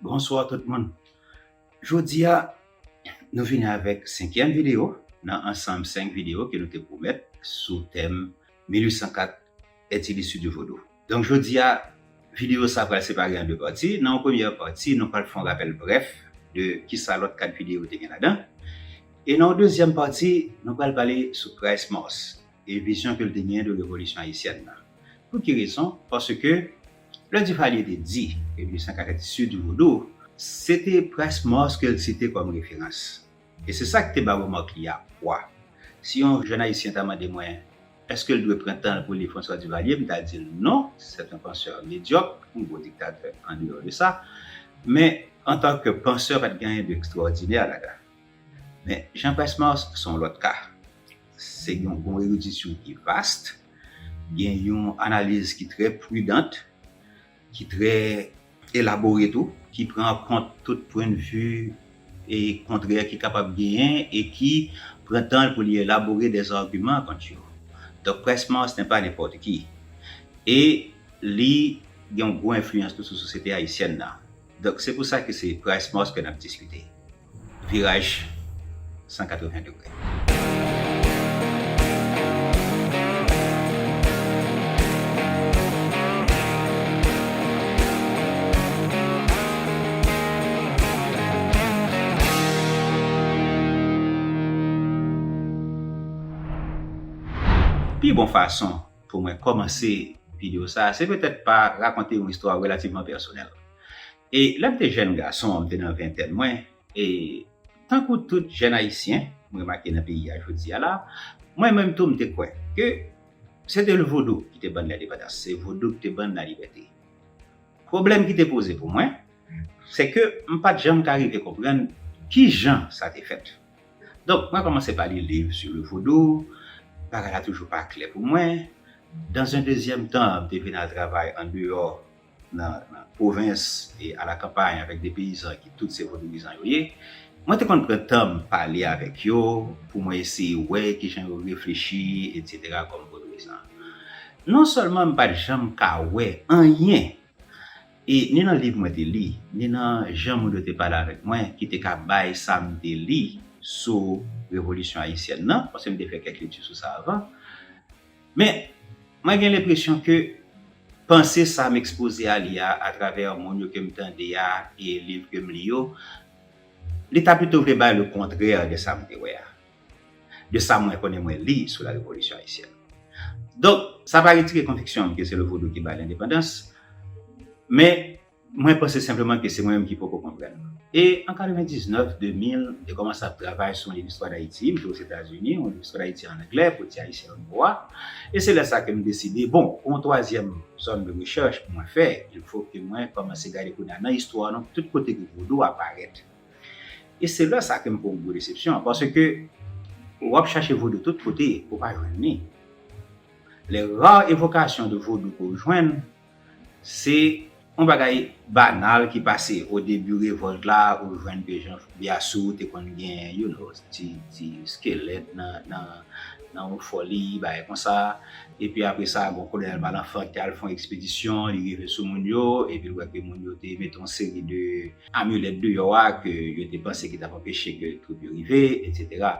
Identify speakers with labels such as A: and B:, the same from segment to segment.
A: Bonsoir tout moun! Jodi a nou vini avèk senkyèm videyo nan ansanm 5 videyo ke nou te pwomèt sou tèm 1804 Est-il issu du Vodou? Donk jodi a videyo sa pral separe an 2 pati, nan yon premyè pati nou pral fè yon rapèl brèf de kisa lòt 4 videyo te gen ladan e nan yon dezyèm pati nou pral pale sou Christ Mars e vizyon ke l te genyen de revolisyon ayisyèn nan. Pou ki rezon? Paske lè Duvalier te di ke 1804 sur du Vodou, se te Price Mars ke l site kòm referans. E se sa ki te ba remake li a pwa. Si yon jèn ayisyen ta mande mwen èske l dwe pran tan l pou l li François Duvalier, m ta di l non, c'est un penseur médiocre, yon gwo diktatè an deyò de sa, men an tan ke penseur pa t gen anyen de ekstrawòdinè ladan l. Men Jean Price Mars se yon lòt ka. Se yon bon eridisyon ki vast, gen yon analiz ki trè pridant, ki trè elabore tou, ki pran an kont tout pwennvi kontrè ki kapab genyen e ki pran tan l pou li elabore dè zagiman kont yo. Donk près Mars nè pa nenpòt ki. E li gen yon gwo enfliyans tou sou sosyete ayisyèn nan. Donk se pou sa ke se près Mars ke n ap diskite. Viraj 180 degre. Pi bon fason pou mwen kòmanse video sa a se petèt pa rakonte yon istwa relativman pèsonèl. E lè m te jèn gason, m te nan ventèn mwen, e tankou tout jèn Ayisyen, m remake nan peyi a jodi a la, mwen menm tou m te kwè ke se te lvodou ki te ban n lendepandans, se vodou ki te ban n lalibète. Pwoblèm ki te poze pou mwen, se ke m pa t janm ka rive konprann ki jan sa te fèt. Donk mwen kòmanse pa li liv sou le vodou, bagay la toujou pa klè pou mwen. Dans un dezyèm tan, m te vin al travay andeyò nan pwovens e alakampay avèk de peyizan ki tout se vodouyizan yo ye, mwen te konn pran tan m pale avèk yo pou mwen eseye wè ki jan yo reflechi etsetera kòm vodouyizan. Non sèlman m pat janm ka wè anyen e ni nan liv mwen te li, ni nan jan moun yo te pale avèk mwen ki te ka bay sa m te li sou revolisyon ayisyèn nan, paske m te fè kèk lekti sou sa avan, Men, mwen gen lenpresyon ke panse sa m ekspoze a li a, atravè moun yo ke m tande a e liv ke m li yo, li ta pito vle bay le kontrè de sa m te wè a, de sa mwen konnen mwen li sou la Revolisyon Ayisyèn. Donk, sa pa retire konviksyon m ke se le Vodou ki bay lendepandans, men, Mwen panse senpleman ke se mwen menm ki poko konprann. E an 99, 2000, m te kòmanse ap travay sou yon liv istwa Dayiti, m te Ozetazini, yon liv istwa Dayiti an anglè, pou ti Ayisyen yo nwo a. E se lè sa ke m deside, bon, pou yon twazyèm zòn de rechèch pou mwen fè, il fo ke mwen kòmanse gade kounye a nan istwa nou tout kote ke Vodou a parèt. E se lè sa ke m fè yon gwo desepsyon, paske w ap chache Vodou tout kote, ou pa jwenn li. Les rares évocations de Vodou ke w jwenn, Se yon bagay banal ki pase o debi revolt la ou jwenn ke jan Biassou te konn gen you no ti skelèt nan yon foli bagay konsa epi apre sa bon kolonèl Malenfant te al fon ekspedisyon li rive sou moun yo epi l wè ke moun yo te mete yon seri de amilèt deyò a ke yo te panse ki t ap anpeche ke twoup yo rive etc.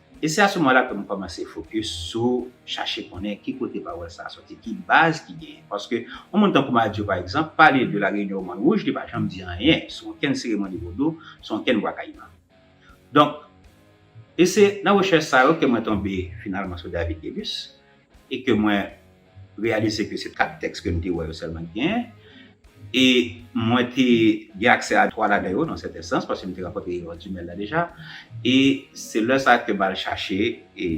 A: E se asoumwa la ke m kòmanse fokis sou chache konnen ki kote pawòl sa a sòti, ki baz ki genyen. Paske yon moun tankou Madio pa egzanp, pale de la reyinyon Mòn Wouj, li pa janm di anyen sou onkenn seremoni vodou, sou onkenn Bwa Kayiman. Donk, e se nan rechèch sa yo ke mwen tonbe finalman sou David Guélus. e ke mwen reyalize ke se 4 tèks ke m te wè yo sèlman ki genyen, e mwen te gen aksè a 3 ladan yo nan sèten sans, paske m te rankontre Erol Tumèl la deja, e se lè sa ke m al chache e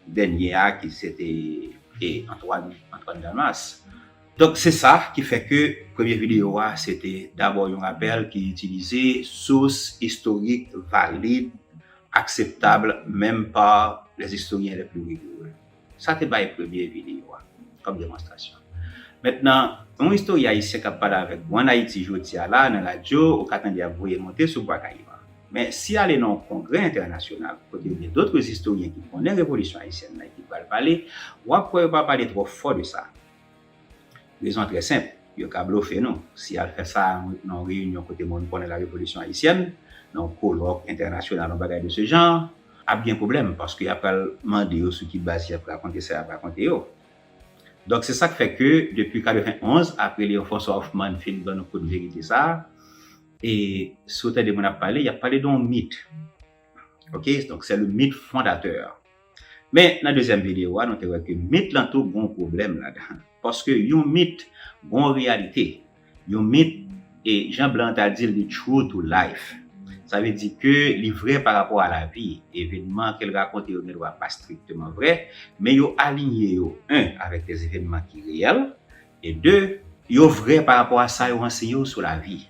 A: dènye a ki se te e Antwàn, Antoine Damas. Donk se sa ki fè ke premye videyo a se te dabò yon rapèl ki itilize sous istorik valid, akseptab menm pa les historiens les plus rigoureux. Sa te bay premye videyo a kòm demonstrasyon. Mentnan, yon istoryen ayisyen k ap pale avèk ou ann Ayiti jodi a la nan radyo, ou ka tande y ap voye monte sou Bwa Kayiman. Men, si y ale nan yon kongrè entènasyonal kote yo gen dotre istoryen ki konnen revolisyon ayisyèn nan e ki pral pale, w ap kwè yo pa pale twò fò de sa. Rezon trè senp, yo ka blofe nou. Si y al fè sa nan yon reyinyon kote moun konnen la revolisyon ayisyèn, nan yon kolòk entènasyonal, yon bagay de se jan an, ap gen pwoblèm paske y ap pral mande yo sou ki baz y ap rakonte sa y ap rakonte yo. Donk se sa k fè ke depi 91, apre Léon François Hoffmann fin ban nou kout verite sa a, e si w tande moun ap pale, y ap pale de yon mit. Ok, donk sè le mit fondatè. Men, nan dezyèm videyo a, nou te wè ke mit lan tou gon pwoblèm ladan. Paske yon mit gon reyalite. Yon mit, e jan blan an ta di l, li true to life. Sa vle di ke li vrè pa rapò a lavi. Evenman ke l rakonte yo gendwa pa strikteman vrè, men yo alinye yo, 1 avèk dè evenman ki reyèl, E 2, yo vrè pa rapò a sa yo anseye w sou lavi.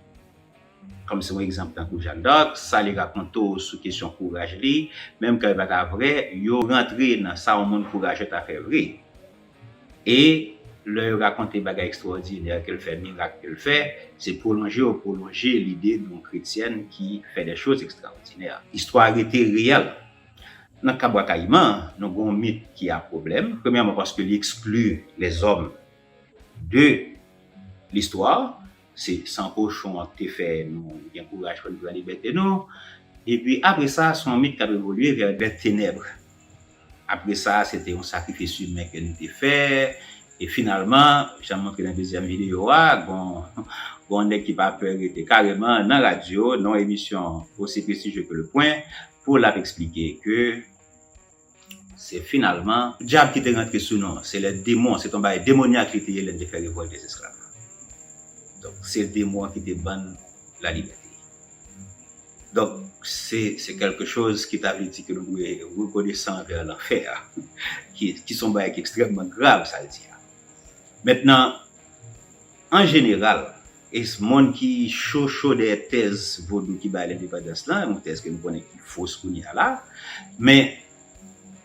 A: Kòm se yon egzanp tankou Jeanne d'Arc, sa li rakonte w sou kesyon kouraj li, menm kan yo pa ta vrè, yo rantre nan sa yon moun kourajè ta fè vre. E, lè yo rakonte bagay ekstwòdinè ke l fè, mirak ke l fè, se pwolonje yo pwolonje lide de yon kretyèn ki fè dè choz ekstrawòdinè. Istwa rete reyèl. Nan ka Bwakayiman, nou gen yon mit ki a pwoblèm, premyèman paske li ekskli lèzòm de listwa, se san kochon an ki te fè nou gen kouraj pou n pran libète nou, epi apre sa, se yon mit k ap evolye vè lè tenèb. Apre sa, se te yon sakrifis imen ke nou te fè, e finalman, jan m montre nan dezyèm videyo a, gen yon nèg ki pa pè rete kareman nan radyo, nan yon emisyon osi prestijye ke Le Point, Paul ap eksplike ke se finalman. Dyab ki te rantre sou nou an. Se lè demon, se te yon bagay demonyak li te ye lè l te fè revòlt dezesklav la. Donk, se demon an ki te ban l lalibète. Donk, se kèlke choz ki ta vle di ke nou dwe rekonesan anvè lanfè a, ki se yon bagay ki ekstrèmman grav sa l di a. Mentnan, an jeneral, Ese moun ki cho cho dèyè tèz vodou ki bay lendepandans lan, yon tèz ke nou konnen ki fos kounye a la. Men,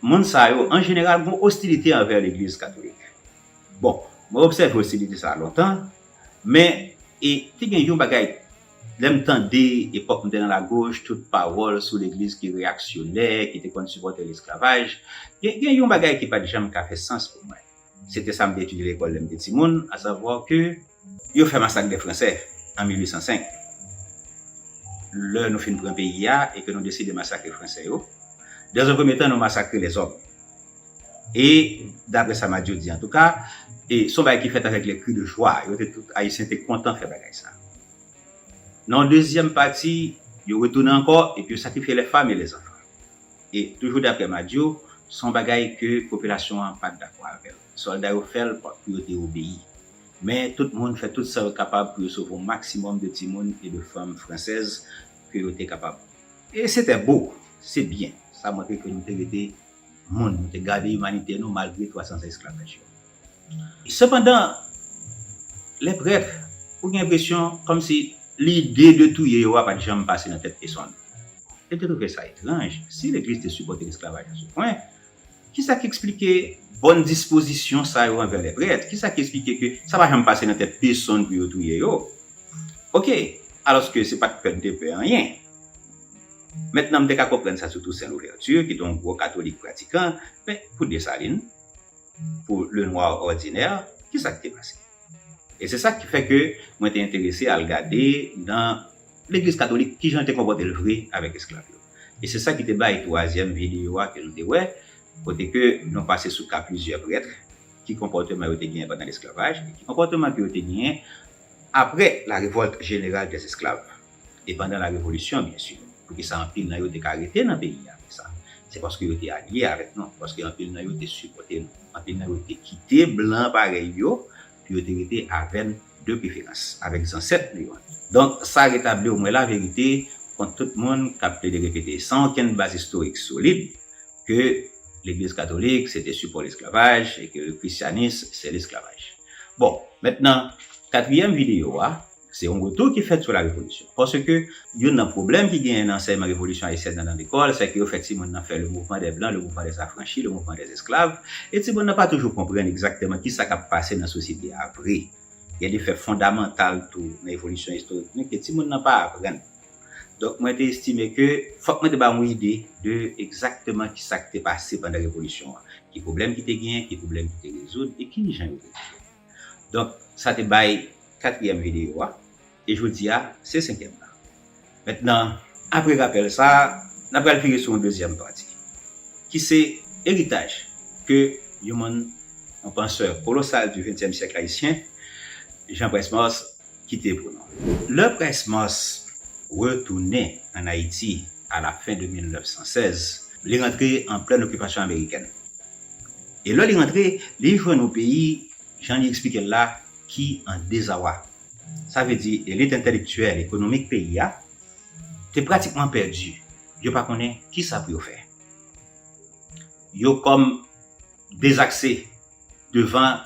A: moun sa yo, an jeneral, gen yon ostilite anvè legliz katolik. Bon, mwen obsève ostilite sa a lontan, men, e te gen yon bagay, lè m tande, epòk m te nan lagoch, tout pawòl sou legliz ki reyaksyonè, ki te konn sipòte lesklavaj, gen, gen yon bagay ki pa t janm ka fè sans pou mwen. Se te sa m te etidye lekòl lè m te timoun, asavwa ke, Yo fè masak dè Fransè an 1805. Lè nou fin pran peyi a e ke nou deside masakre Fransè yo, dans un premier temps nou masakre les hommes. E daprè sa Madio di antouka, e son bagay ki fèt avèk les cris de joie, yo te tout Ayisyen te kontan fè bagay sa. Nan yon dezyèm pati, yo retounen ankò epi yo sakrifye les femmes et les enfants. E toujou daprè Madio, son bagay ke popilasyon an pat dakò avèl. Sòlda yo fèl pou yo te obeyi. Men, tout moun fè tout sa yo kapab pou yo sove yon maksimòm de timoun e de fanm fransèz ke yo te kapab. E se tè bo! Se byen! Sa montre ke nou te rete moun, nou te gade imanite nou malgre 300 zan esklavaj yo. Sepandan, lè prèt, ou gen enpresyon kòmsi lide de touye yo a pa t janm pase nan tèt pesonn. Yo te twouve sa etranj, si Legliz te sipòte lesklavaj a sou pwen, Ki sa ki esplike bòn dispozisyon sa yo anvè lèprèt? Ki sa ki esplike ke sa pa janm pase nan tèt pesonn pou yo touye yo? Oke, alòske se pa t pè n te pè anyen. Mentnan m te ka konprann sa sou Tousen Louvèti, ki te yon gwo katolik pratikan, men pou Desalin, pou Lenwa òdinè, ki sa k te pase? E se sa ki fè ke mwen te enterese al gade nan legliz katolik ki jan l te konpòte l vre avèk esklav yo. E se sa ki te bay twazyèm videyo a ke nou te wè, kote ke nou pase sou ka plizyè prètre, ki konpòteman yo te genyen pandan lesklavaj, e ki konpòteman ke yo te genyen apre la revolt jeneral dè esklav, e pandan la revolisyon byen sur. Poukisa anpil nan yo te ka rete nan peyi a apre sa? Se paske yo te alye avèk nou, paske anpil nan yo te sipòte nou. Anpil nan yo te kite blan parèy yo pou yo te rete avèn de preferans avèk zansèt nou yo. Donk sa retabli omwen la verite kont tout moun kap plede repete san okenn baz istorik solid ke legliz katolik se te sipò lesklavaj e ke le krisyanis se lesklavaj. Bon, mentnan katriyèm videyo a. Se yon retou ki fèt sou la revolisyon. Paske, youn nan pwoblèm ki genyen nan ansèyman revolisyon ayisyèn nan nan lekòl, sèke yo fè timoun nan fè le mouvman dè blan, le mouvman dè zafranchi, le mouvman dè esklav, e timoun nan pa toujou konprann egzakteman ki sa k ap pase nan sosyete a vre. Gen de fè fondamantal tou nan evolisyon istorik nou ke timoun nan pa aprann. Donk, mwen te estime ke fòk mwen te bay yon ide de egzakteman ki sa k te pase pandan revolisyon an, ki pwoblèm ki te genyen, ki pwoblèm ki te rezoud, e ki jan yo te rezoud. Donk sa te bay katriyèm videyo a, e jodi a se senkyèm nan. Mentnan, apre rapèl sa a, n a pral vire sou yon dezyèm pati, ki se eritaj ke yon moun, yon pansè kolosal di ventyèm syèk ayisyen, Jean Price-Mars, kite pou nou. Lè Price Mars retounen ann Ayiti a la fen de 1916, li rantre an plen okipasyon amerikèn. E lè li rantre, li jwenn yon peyi, jan li eksplike l la, ki an dezawa. Sa vle di elit entèlektyèl, ekonomik peyi a te pratikman pèdi. Yo pa konnen ki sa pou yo fè. Yo kòm dezakse devan.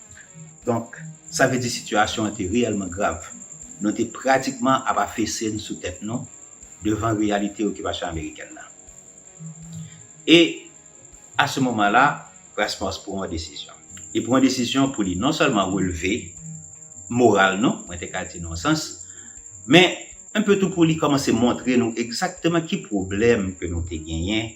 A: Donk, sa vle di sitiyasyon an te reyèlman grav. Nou te pratikman ap afese n sou tèt nou devan reyalite okipasyon amerikèn nan. E, a se moman la, Rasmus pran yon desizyon. Li pran yon desizyon pou li non sèlman relve moral nou, mwen te ka di nan yon sans, men, enpe tou pou li kòmanse montre nou egzakteman ki pwoblèm ke nou te genyen,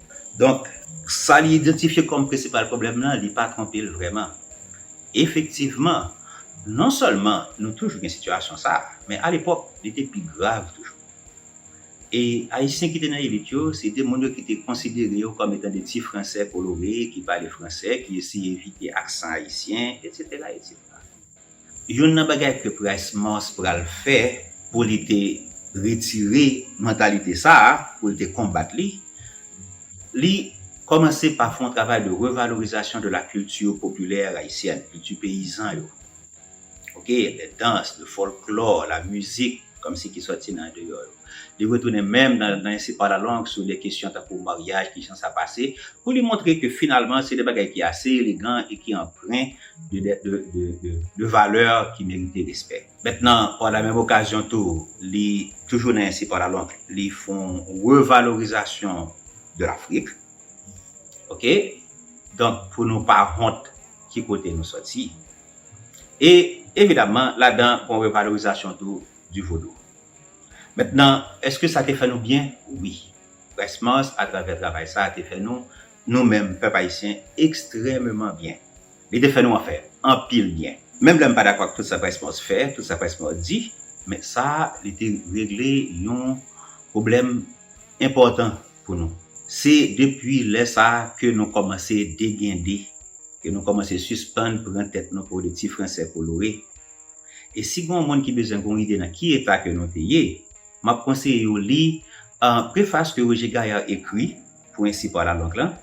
A: Donk, sa li idantifye kòm prensipal pwoblèm lan, li pa twonpe l vrèman. Efektivman, non sèlman nou toujou gen sitiyasyon sa a, men alepòk, li te pi grav toujou. E Ayisyen ki te nan elit yo, se te moun yo ki te konsidere yo kòm etan de ti Fransè kolore ki pale fransè, ki eseye evite aksan ayisyen, etsetera, etsetera. Youn nan bagay ke Price Mars pral fè pou li te retire mantalite sa a, pou li te konbat li, li kòmanse pa fè yon travay de revalorizasyon de la culture populaire haïtienne, kilti peyizan yo, ok, les danses, le folklore, la musique, kòmsi ki sòti nan andeyò yo. Li retounen menm nan ensepalalong sou de kesyon tankou maryaj, ki jan sa pase, pou li montre ke finalman se de bagay ki ase elegan e ki anpren de valè ki merite respè. Mentnan, pa la menm okazyon tou, li, toujou nan ensepalalong, li fè yon revalorizasyon de Lafrik. Ok? Donk, pou nou pa wont ki kote nou soti. E, evidamman, ladan, gon revalorizasyon tou di Vodou. Mentnan, èske sa te fè nou byen? Wi. Près Mars, atravè travay sa a, te fè nou, nou menm, pèp ayisyen, ekstrèmeman byen. Li te fè nou, anfen, anpil byen. Menm lè m pa dakò ak tout sa Près Mars fè, tout sa Près Mars di, men sa li te regle yon pwoblèm enpòtan pou nou. Se depi lè sa a ke nou kòmanse degende, ke nou kòmanse sispann pran tèt nou pou de ti fransè kolore. E si gen yon moun ki bezwen gen yon ide nan ki eta ke nou te ye, m ap konseye yo li prefas ke Roger Gaillard ekri pou Un Support à la Langue lan,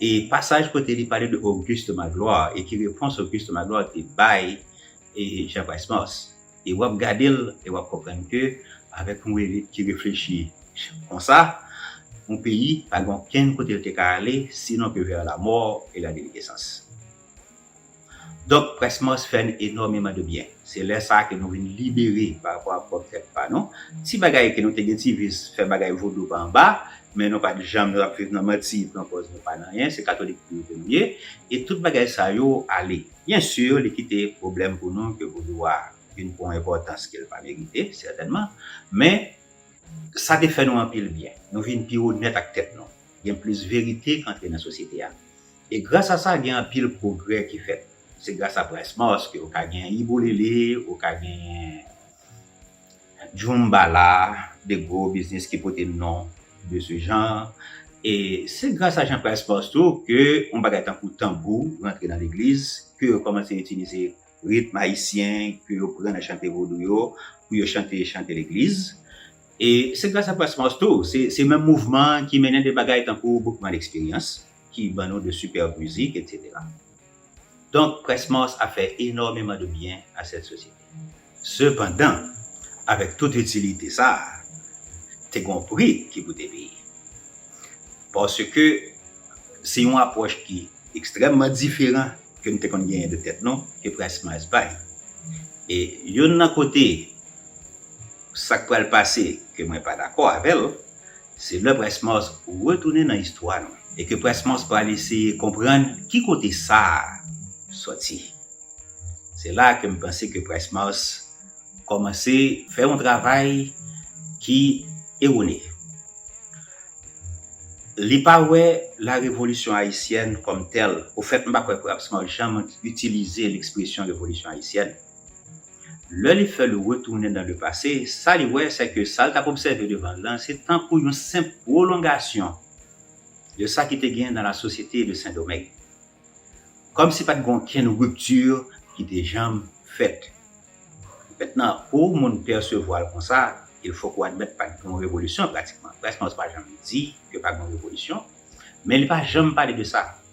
A: e pasaj kote li pale de Auguste Magloire e ki repons Auguste Magloire te bay Jean Price-Mars. E wap gade l e wap konprann ke avèk yon elit ki reflechi konsa, yon peyi pa gen okenn kote l te ka ale sinon ke vers la mort et la déliquescence. Donk Près Mars fè n enòmeman de byen. Se lè sa ke nou vin libere pa rapò ak pwòp tèt pa nou. Ti bagay ke nou te gen ti vis fè bagay vodou pa anba, men nou pat janm nou ap viv nan manti pran pòz nou pa nan anyen, se katolik tou ke nou ye, e tout bagay sa yo ale. Byen sur li kite pwoblèm pou nou ke vodou a vin pwan enpòtans ke l pa merite, sètènman, men sa te fè nou anpil byen. Nou vin pi onèt ak tèt nou. Gen plis verite k antre nan sosyete a. E gras a sa gen anpil pwogrè ki fèt. Se gras a Price Mars ke ou ka gen Ibo Lele, ou ka gen Djoumbala, 2 gwo biznis ki pote non de ce genre. E se gras a Jean Price Mars tou ke yon bagay tankou tanbou rantre nan legliz, ke yo kòmanse itilize ritm ayisyen ke yo pran nan chante vodou yo pou yo chante chante legliz. E se gras a Price Mars tou, se menm mouvman ki mennen de bagay tankou Boukman Eksperyans ki ban nou de sipèb mizik, etsetera. Donk, Près Mars ap fè enòmeman de byen a sèt sosyete. Sepandan, avèk tout itilite sa a, te gen yon pri ki pou te peye. Paske, se yon apwòch ki ekstrèmman diferan ke nou te konn genyen de tèt nou ke Près Mars bay. E youn nan kote sa k pral pase ke mwen pa dakò avè l, Se lè Près Mòs retounen nan istwa nou e ke Près Mòs pral eseye konprann ki kote sa a sòti. Se la a ke m panse ke Près Mòs kòmanse fè yon travay ki erone. Li pa wè la revolisyon ayisyèn kòm tèl. Ofèt, m pa kwè Près Mòs janm itilize lekspresyon revolisyon ayisyèn. Lè li fè l retounen nan le pase, sa li wè sè ke sa l t ap obsève devan l lan se tankou yon senp pwolongasyon de sa ki te gen nan la sosyete de Sendomeng. Kòm si pa t gen okenn ripti ki te janm fèt. Mentnan, pou moun pèsevwa l konsa, il fòk ou admèt pa t gen yon revolisyon pratikman. Presnòs pa janm di ke pa gen yon revolisyon, men li pa janm pale de sa.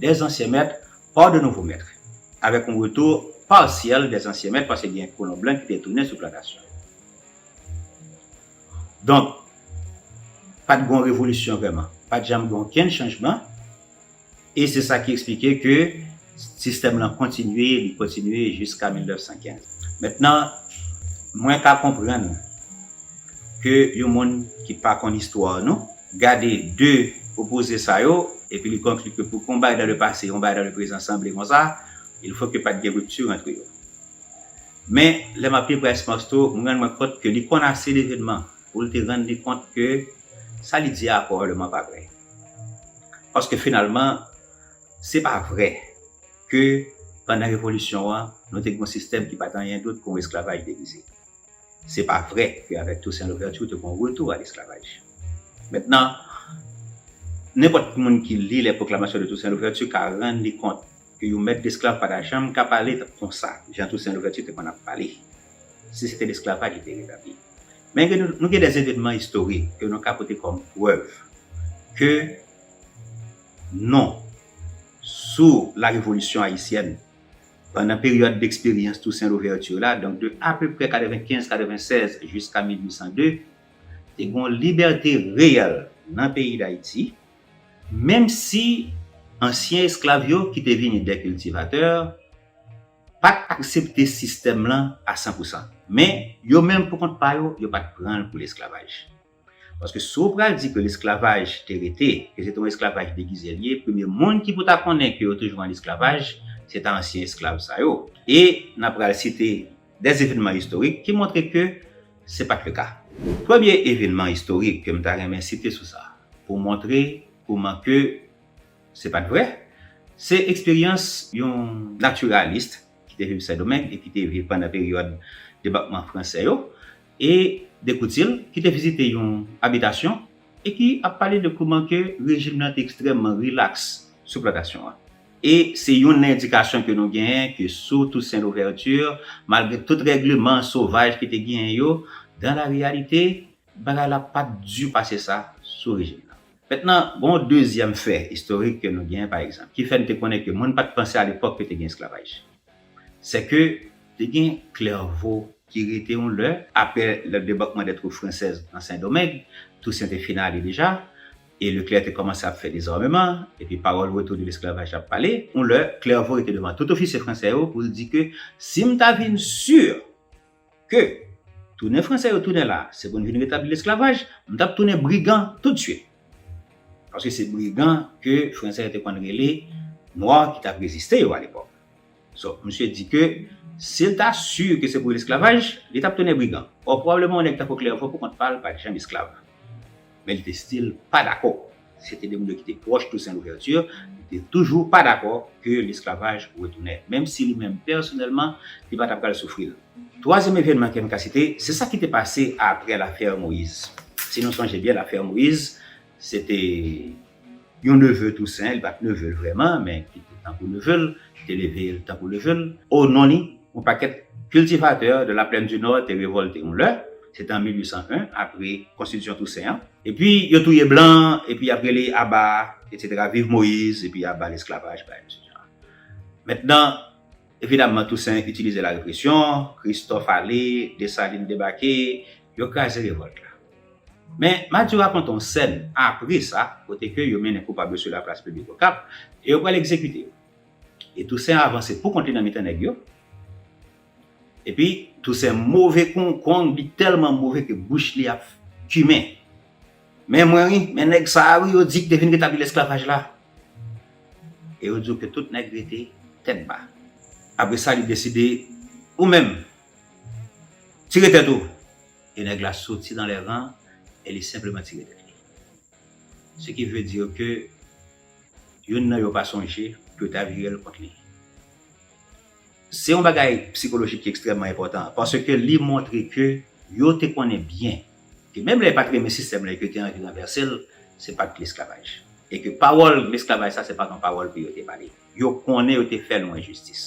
A: des anciens maîtres par de nouveaux maîtres avèk yon retour partiel des anciens maîtres paske gen kolon blan ki te tounen sou plantasyon yo. Donk, pa t gen yon revolisyon vrèman. Pa t janm gen okenn chanjman e se sa ki esplike ke sistèm lan kontinye, li kontinye jiska 1915. Mentnan, mwen ka konprann ke yon moun ki pa konn istwa nou, gade de opoze sa yo, epi li konkli ke pou ke yon bagay dan le pase, yon bagay dan le prezan sanble konsa, il fo ke pa t gen ripti antre yo. Men, lè m ap li Bryce Marceau, m rann mwen kont ke li konn ase levenman pou l te rann li kont ke sa li di a pwobableman pa vre. Paske finalman, se pa vre ke pandan revolisyon an, nou te gen yon sistèm ki pa t anyen dout ke yon esklavaj degize. Se pa vre ke avèk Toussaint Louverture ou te gen yon retou a lesklavaj. Mentnan, nenpòt ki moun ki li les proclamations de Toussaint Louverture ka rann li kont ke yon mèt desklav pa ta janm ka pale konsa jan Toussaint Louverture te konn ap pale, si se te lesklavaj li te retabli. Men ke nou gen des evenman istorik ke nou ka pote kòm prèv ke non sou la revolisyon ayisyèn. Pandan peryòd deksperyans Toussaint Louverture la, donk de apeprè 95-96 jiska 1802, te gen yon libète reyèl nan peyi Dayiti, menm si ansyen esklav yo ki te vini dè kiltivatè, pa t aksepte sistèm lan a san pou san. Men, yo menm pou kont pa yo, yo pa t pran l pou lesklavaj. Paske si w pral di ke lesklavaj te rete, ke se te yon esklavaj degize li ye, premye moun ki pou ta konnen ke yo toujou an esklavaj, se ta ansyen esklav sa yo. E nan pral site de evenman istorik ki montre ke se pa t leka. Premye evenman istorik ke m ta renmen site sou sa, pou montre kouman ke se pa t vre, se eksperyans yon naturaliste ki te viv Sendomeng e ki te viv pandan peryòd debakman franse yo, E de Courtil ki te vizite yon abitasyon e ki ap pale de kouman ke rejim nan te ekstrèmman rilaks sou plantasyon an. E se youn nan endikasyon ke nou genyen ke sou Toussaint Louverture, malgre tout règleman sovaj ki te genyen yo, dan la reyalite, bagay la pa t di pase sa sou rejim nan. Mentnan, gen yon dezyèm fè istorik ke nou genyen pa egzanp, ki fè n te konnen ke moun pa t panse alepòk ke te gen esklavaj. Sè ke te gen Klèvo ki rete yon lè. Apre le debakman de twoup fransèz nan Sen Domeng, Tousen te fin ale deja, e Leklè te kòmanse ap fè dezòmeman, epi pawòl retou de lesklavaj ap pale. Yon lè, Klèvo rete devan tout ofisye fransè yo pou l di ke si m ta vin si. ke tounen Franse yo tounen la se pou n vin retabli lesklavaj, m t ap tounen brigan toutswit. Paske se brigan ke Franse yo te konn rele Nwa ki t ap reziste yo alepòk. So, misye di ke si l ta si ke se pou lesklavaj, li t ap tounen brigan. Ò, pwobableman yon nèg tankou Clerveau poukont pa l pa t janm esklav. Men li te stil pa dakò. se te de moun yo ki te pwòch Toussaint Louverture, li te toujou pa dakò ke lesklavaj retounen, menm si li menm pèsonèlman li pa ta pral soufri l. Twazyèm evènman ke m ka site, se sa ki te pase aprè lafè Moïse. Si nou sonje byen lafè Moïse, se te yon neve Toussaint, li pa t neve l vrèman, men ki te tankou neve l, ki te leve l tankou neve l. O non li, yon pakèt cultivateurs de la plaine du Nord te revòlte yon lè, se te an 1801, apre konstitisyon Toussaint an. Epi yo touye blan epi yap rele aba etc viv moise epi aba lesklavaj bay mesye jan mèt nan evidamman tousen itilize la represyon kristòf ale desalin debake yo kraze revòlt la men madi rakonte yon sèn apre sa kote ke yo mennen koupab yo sou la plas piblik okap e yo pral egzekite yo e tousen avanse poukont li nan mitan nèg yo. Epi Toussaint move kon w kong li telman move ke bouch li ap kimen. Men mwen wi, men neg sa a wi yo di ki te vin retabli lesklavaj la. E yo di w ke tout neg rete tet ba. Apre sa li deside ou menm tire tet ou. E neg la soti dan le ran e li senpleman tire tet li. Se ki vle di w ke youn nan yo pa sonje pou yo ta vire l kont li. Se yon bagay psikolojik ki ekstrèmman enpòtan, paske li montre ke yo te konnen byen ke menm lè yo pa t renmen sistèm la e ke yo te anvi ranvèse l, se pa t lesklavaj. E ke pawòl lesklavaj sa, se pa t yon pawòl pou yo te pale. Yo konnen yo te fè nou enjistis.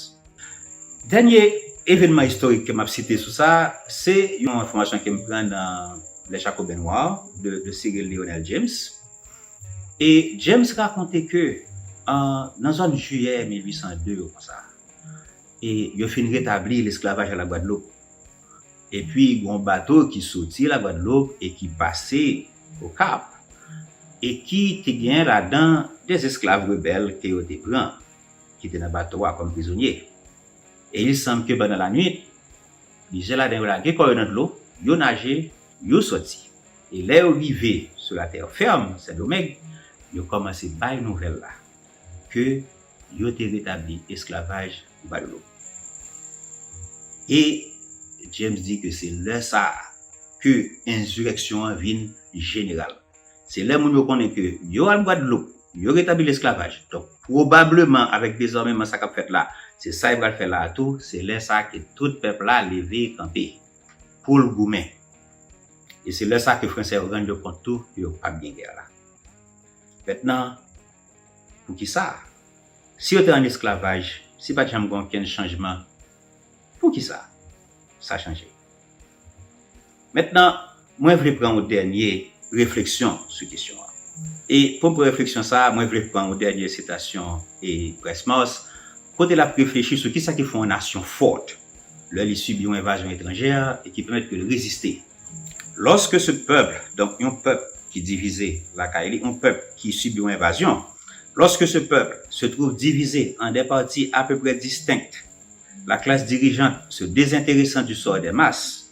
A: Dènye evenman istorik ke m ap site sou sa, se yon enfòmasyon ke m pran nan Le Jacobin Noir de Cyril Lionel James. E James rakonte ke nan zòn Jiyè 1802 yo konsa, e yo fin retabli lesklavaj a Lagwadloup. Epi gen yon bato ki soti Lagwadloup e ki pase Okap, e ki te gen ladan de esklav rebèl ke yo te pran, ki te nan bato a kòm prizonye. E il sanb ke pandan lanwit, plizyè ladan yo lage kò yo nan dlo, yo naje, yo soti. E lè yo rive sou la terre ferme, Sendomeng, yo kòmanse bay nouvèl la ke yo te retabli esklavaj Gwadeloup. E James di ke se lè sa a ke enzireksyon an vin jeneral. Se lè moun yo konnen ke yo al Gwadeloup, yo retabli lesklavaj, donk pwobableman avèk dezòmeman sa k ap fèt la, se sa yo pral fè la a tou, se lè sa a ke tout pèp la leve kanpe. pou l goumen. E se lè sa ke Fransè yo rann yo kont tou ke yo pa p gen gè la. Mentnan, pou ki sa? Si yo te ann esklavaj, si pa t janm gen okenn chanjman, pou ki sa sa chanje? Mentnan, Mwen vle pran yon dènye refleksyon sou kesyon an. E pou m pran refleksyon sa a, mwen vle pran yon dènye sitasyon e Price Mars, kote l ap reflechi sou kisa ki fè yon nasyon fort lè li sibi yon envazyon etranjè e ki pèmèt ke l reziste. Lorsque ce peuple, donk yon pèp ki divize lakay li, yon pèp ki sibi yon envazyon, lorsque ce peuple se trouve divisé en des parties à peu près distinctes, la classe dirigeante se désintéressant du sort des masses,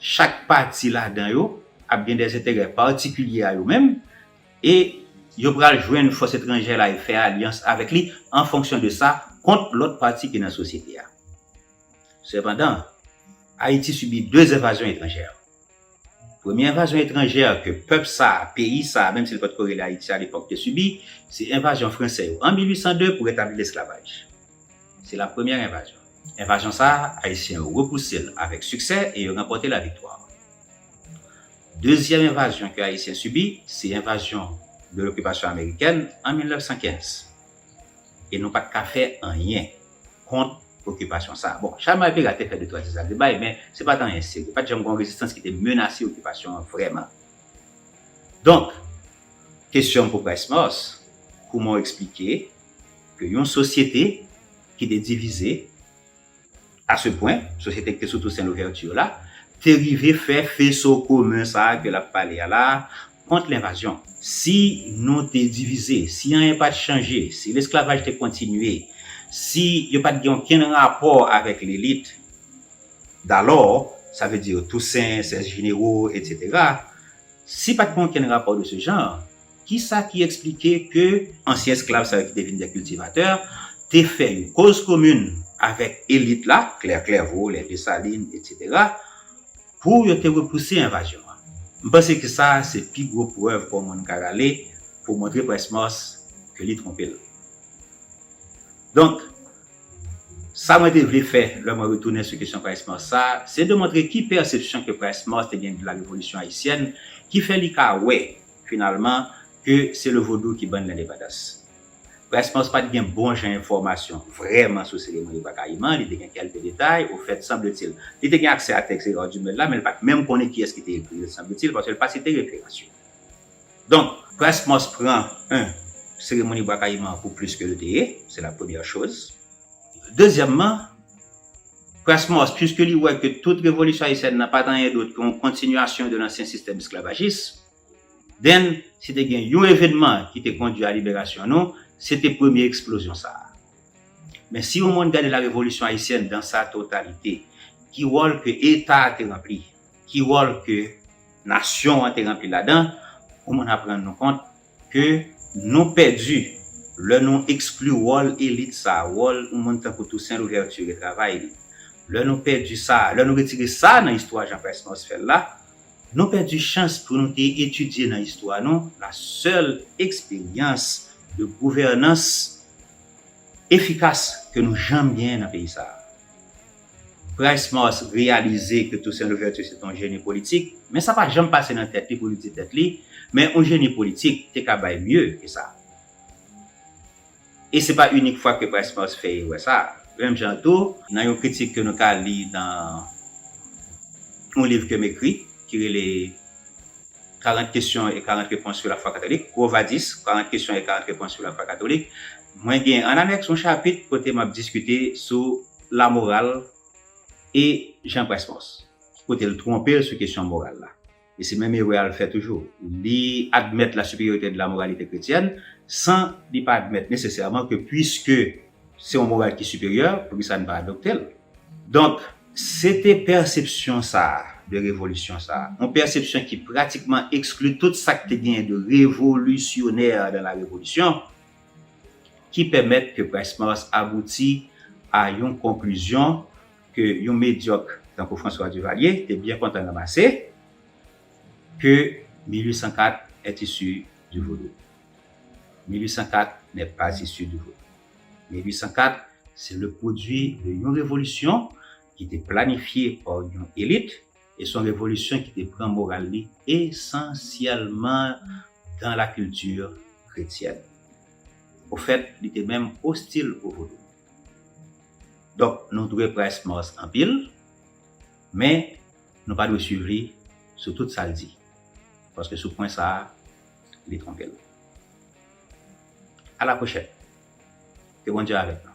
A: Chak pati ladan yo ap gen dèzenterè patikilye a yo menm e yo pral jwenn fòs etranjè la e fè alyans avèk li an fonksyon de sa kont lòt pati ki nan sosyete a. Sepandan, Ayiti sibi 2 envazyon etranjè. Premye envazyon etranjè ke pèp sa a, peyi sa a, menm si li pa t ko rele Ayiti alepòk, te sibi, se envazyon franse yo an 1802 pou retabli lesklavaj. Se la premyè envazyon. Envazyon sa a, Ayisyen yo repouse l avèk siksè e yo ranpòte laviktwa. Dezyèm envazyon ke Ayisyen sibi, se envazyon de l'occupation américaine an 1915. E nou pa t ka fè anyen kont okipasyon sa a. Bon, Chalman e Pera te fè de twa ti zagrebay, men se pa t anyen serye. Pa t janm gen yon rezistans ki te menase okipasyon an vrèman. Donk, kesyon m pou Price Mars, kouman w eksplike, ke yon sosyete ki te divize a se pwen, sosyete ki te sou Toussaint Louverture la, te rive fè feso komen sa a ke l ap pale a la a kont lenvazyon. Si nou te divize, si anyen pa t chanje, si lesklavaj te kontinye, si yo pa t gen okenn rapò avèk lelit dalò, sa vle di Toussaint, Sèl Jinero, etc. Si pa t gen okenn rapò de se jan, Ki sa ki eksplike ke ansyen esklav sa yo ki te vin dè kiltivatè te fè yon koz komin avèk elit la, Klè Klèvo, lè Desalin, etsetera, pou yo te repouse envazyon an? M panse ke sa a se pi gwo prèv ke yon moun ka rale pou montre Prince Mars ke li twonpe l. Donk, sa mwen te vle fè lè mwen retounen sou kesyon Prince Mars sa a, se demontre ki pèsepsyon ke Prince Mars te gen de la Revolisyon Ayisyèn ki fè li ka wè Finalman, ke se le vodou ki bann lendepandans. Price Mars pa t gen bon jan enfòmasyon vrèman sou seremoni Bwa Kayiman, li te gen kèlke detay, ofèt, sanbletil, li te gen aksè a tèks Hérard Dumesle la, men li pa t menm konnen kiyès ki te ekri l, sanbletil, paske l pa site referans yo. Donk. Price Mars pran, 1, seremoni Bwa Kayiman an pou plis ke l te ye, se la premyè choz. Dezyèmman, Prasmos, puiske li wè ke tout revolisyon ayisyèn nan pa t anyen dot ke yon kontinyasyon de lansyen sistèm esklavajis, then, si te gen yon evenman ki te kondwi a liberasyon nou, se te premye eksplozyon sa a. Men si yon moun gade la revolisyon ayisyèn dan sa totalite, ki wòl ke Eta a te ranpli, ki wòl ke nasyon an te ranpli ladan, yon moun ap rann nou kont ke nou pèdi lè nou ekskli wòl elit sa, wòl yon moun tankou Toussaint Louverture e travay li. Lè nou pèdi sa, lè nou retire sa nan istwa Jean Price Mars fè l la, nou pèdi chans pou nou te etidye nan istwa nou la sèl eksperyans de gouvènans efikas ke nou janm genyen nan peyi sa a. Price Mars reyalize ke Toussaint Louverture se te yon jeni politik, men sa pa janm pase nan tèt li pou li di tèt li, men yon jeni politik te ka bay mye ke sa. E se pa inik fwa ke Price Mars fè erè sa. Menm jan tou, nan yon kritik ke nou ka li nan yon liv ke m ekri ki rele 40 kesyon e 40 repons sou lafwa katolik, Quo Vadis, 40 kesyon e 40 repons sou lafwa katolik, mwen gen annanèks yon chapit kote m ap diskite sou. Lamoral e Jean Pressmans ki kote l twonpe l sou kesyon moral la. E se menm erè a l fè toujou. Li admèt la supériorité de la moralité chrétienne san li pa admèt nesesèman ke puiske se yon moral ki siperyè, poukisa n pa adopte l? Donk, se te pèsepsyon sa a de revolisyon sa a, yon pèsepsyon ki pratikman ekskli tout sa k te genyen de revolisyoner dans la révolution, ki pèmèt ke Price-Mars abouti a yon konklizyon ke yon medyòk tankou François Duvalier te byen kontan ranmase, ke 1804 est issu du Vaudou. 1804 n'est pas issu du Vaudou. 1804 se le pwodui de yon revolisyon ki te planifye pa yon élite, E son revolisyon ki te pran moral li esansyèlman dan la kilti kretyèn. Ofèt, li te menm ostil pou vodou. Donk, nou dwe Price Mars anpil, men nou pa dwe swiv li sou tout sa l di, paske sou pwen sa a, li twonpe l. Alaprochenn! Ke Bondye avèk nou.